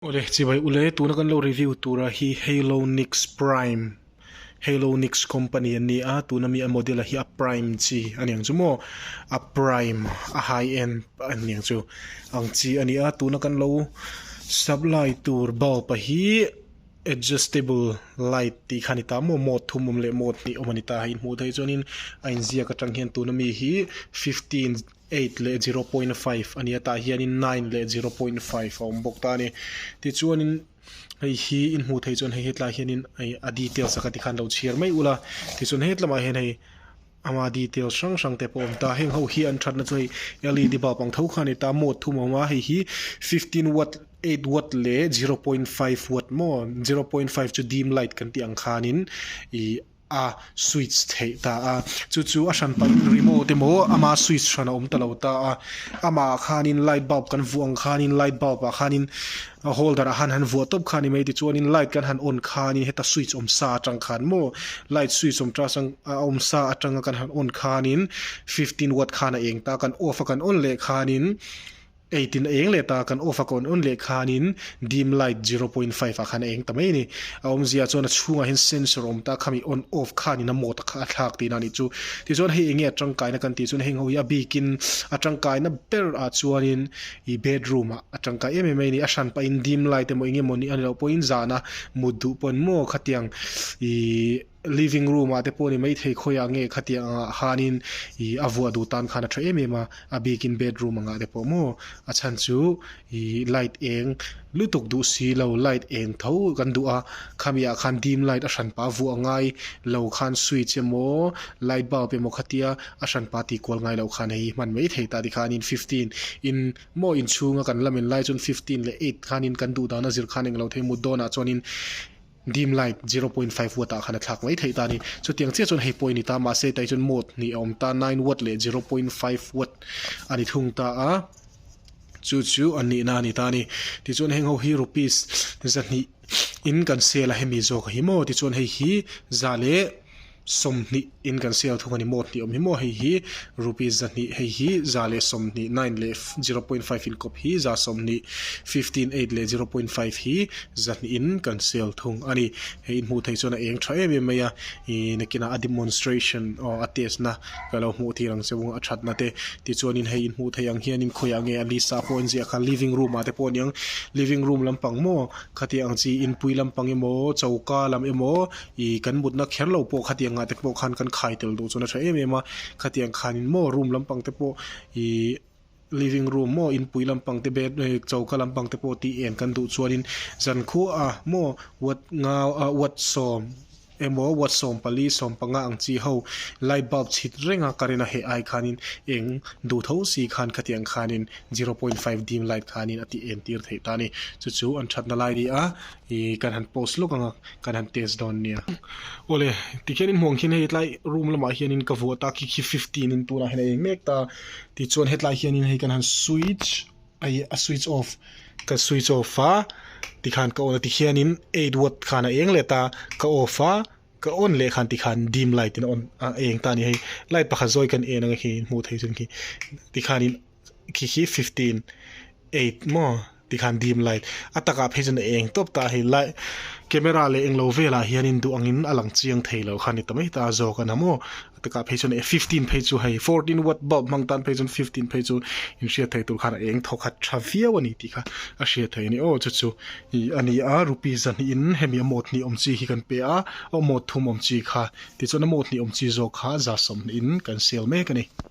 Awle, chibai u le, tuna kan lo review tura hi Halonix Prime, Halonix company an ni a, tuna mi a model a hi a Prime chi a niang chu maw, a Prime a high end an niang chu ang chi a ni a, tuna kan lo supply tur bulb a hi adjustable light tih kha a ni ta maw, mode thum awm leh mode hnih awm a ni ta, hei hmuh daih hi chuan in a inziak atang hian tuna mi hi fifteen eight leh zero point five a nia tah hian in nine leh zero point five a awm bawk ta a ni tichuan in hei hi in hmuh theih chuan hei hetlai hian in hei a details a ka ti khan lo chhiar mai ula tichuan he tlama hian hei ama details hrang hrang te pawh a awm ta heng ho hi an thatna chu hei led bulb ang tho khan a ni ta mode thum a awm a hei hi fifteen watt eight watt leh zero point five watt maw zero point five chu dim light kan tih ang khan in ih-- a switch theih ta a chu chu a hran pahin remote emaw ama switch hran a awm ta lo ta a ama khanin light bulb kan vuah ang khanin light bulb ah khanin holder ah khan han vuah tawp kha a ni mai tichuanin light kan han on khanin heta switch awm sa atang khan maw light switch awm ta chang a awm sa atanga kan han on khanin fifteen watt khan a eng ta a kan off a kan on leh khanin. Ei tin a eng leh ta, kan off a ka on on leh khanin dim light zero point five ah khan a eng ta mai a ni. A awmzia chuan a chhungah hian sensor awm ta, khami on off khanin a mode a kha a thlak tihna a nih chu. Tichuan hei enge a tangkaina kan tih chuan heng ho hi a bikin a tangkaina ber ah chuanin ih bedroom ah a tangkai em em mai a ni. A hran pahin dim light emaw eng emaw nih a ni loh pawhin zana mut duh pawn maw khatiang ih. Living room ah te pawh a ni maithei khawi a nge khatiang ang ah khan in ih a vuah duh tan khan a tha em em a, a bik in bedroom ang ah te pawh maw a chhan chu ih light eng lutuk duh si lo light eng tho kan duh a, khami ah khan dim light a hran pah a vuah ngai lo khan switch emaw light bulb emaw khatia a hran pah tih kual ngai lo khan hei hi hman maithei ta ti khan in fifteen in maw inchhung a kan la men lai chuan fifteen leh eight khan in kan duh dan a zir khan eng lo thei mut dawn ah chuan in Dim light zero point five watt ah khan a thlak mai theih ta a ni. Chutiang chiah chuan hei pawh a ni ta, mahse tai chuan mode hnih a awm ta, nine watt leh zero point five watt a ni thung ta a, chu chu an nihna a ni ta a ni. Tichuan heng ho hi rupees zahnih in kan sale a hemi zawk hi maw? Tichuan hei hi za leh. Sawmhnih in kan sale thung a ni maw? Hniawm hi maw hei hi? Rupees za hnih hei hi za leh sawmhnih nine leh zero point five in kawp hi za sawmhnih fifteen eight leh zero point five hi za hnih in kan sale thung a ni. Hei in hmuh theih chuan a eng tha em em mai a, ih nakinah a demonstration aw a test na ka lo hmuh tir ang che vung a thatna te tichuanin hei in hmuh theih ang hianin khawiah nge a list a pawh a inziah kha living room ah te pawh a ni ang living room lampang maw khatiang chi inpui lampang emaw choka lam emaw I kan mutna kher lo pawh khatiang ngah te pawh khan kan khai tel duh chawh nasa em em a, khatiang khanin maw room lampang te pawh ih living room maw inpui lampang te bed ih choka lampang te pawh tih en kan duh chuanin zan khuaa maw watt ngau ah watt sawm emaw watt sawm pali sawm panga ang chi ho light bulb chhit renga current a heh ai khanin eng duh tho si khan khatiang khanin zero point five dim light khanin a ti en tir theih ta a ni chu chu an thatna lai a ni a. Ih kan han post lawk anga kan han test dawn a nia. Awle, tikhian inhmuang khian hei tlai room lamah hianin ka vuah ta, khi khi fifty in tunah hian a eng mek ta, tichuan hetlai hianin hei kan han switch ai a switch off, ka switch off a, tikhan ka on a tikhianin eight watt khan a eng let a, ka off a, ka on leh khan tikhan dim light in a on a eng ta a ni. Hei light pakhat zawi kan en ang a khi hmuh theih chu khi tikhanin. khi khi fifteen eight maw tih khan dim light a takah phei chuan a eng tawp ta a hei light camera leh englo velah hian in duh angin a lang chiang thei lo kha a ni ta mai ta a zawk a na maw a takah phei chuan fifteen phei chu hei fourteen watt bulb hmang tan phei chuan fifteen phei chu inhriat theih tur khan a eng thawkhat tha viau a ni tih kha a hriat theih a ni aw chu chu ih a nia rupees zahnihin hemi a mawt hnih awm chi hi kan pe a aw mawt thum awm chi kha tichuan a mawt hnih awm chi zawk kha za sawmhnih in kan sale mek a ni.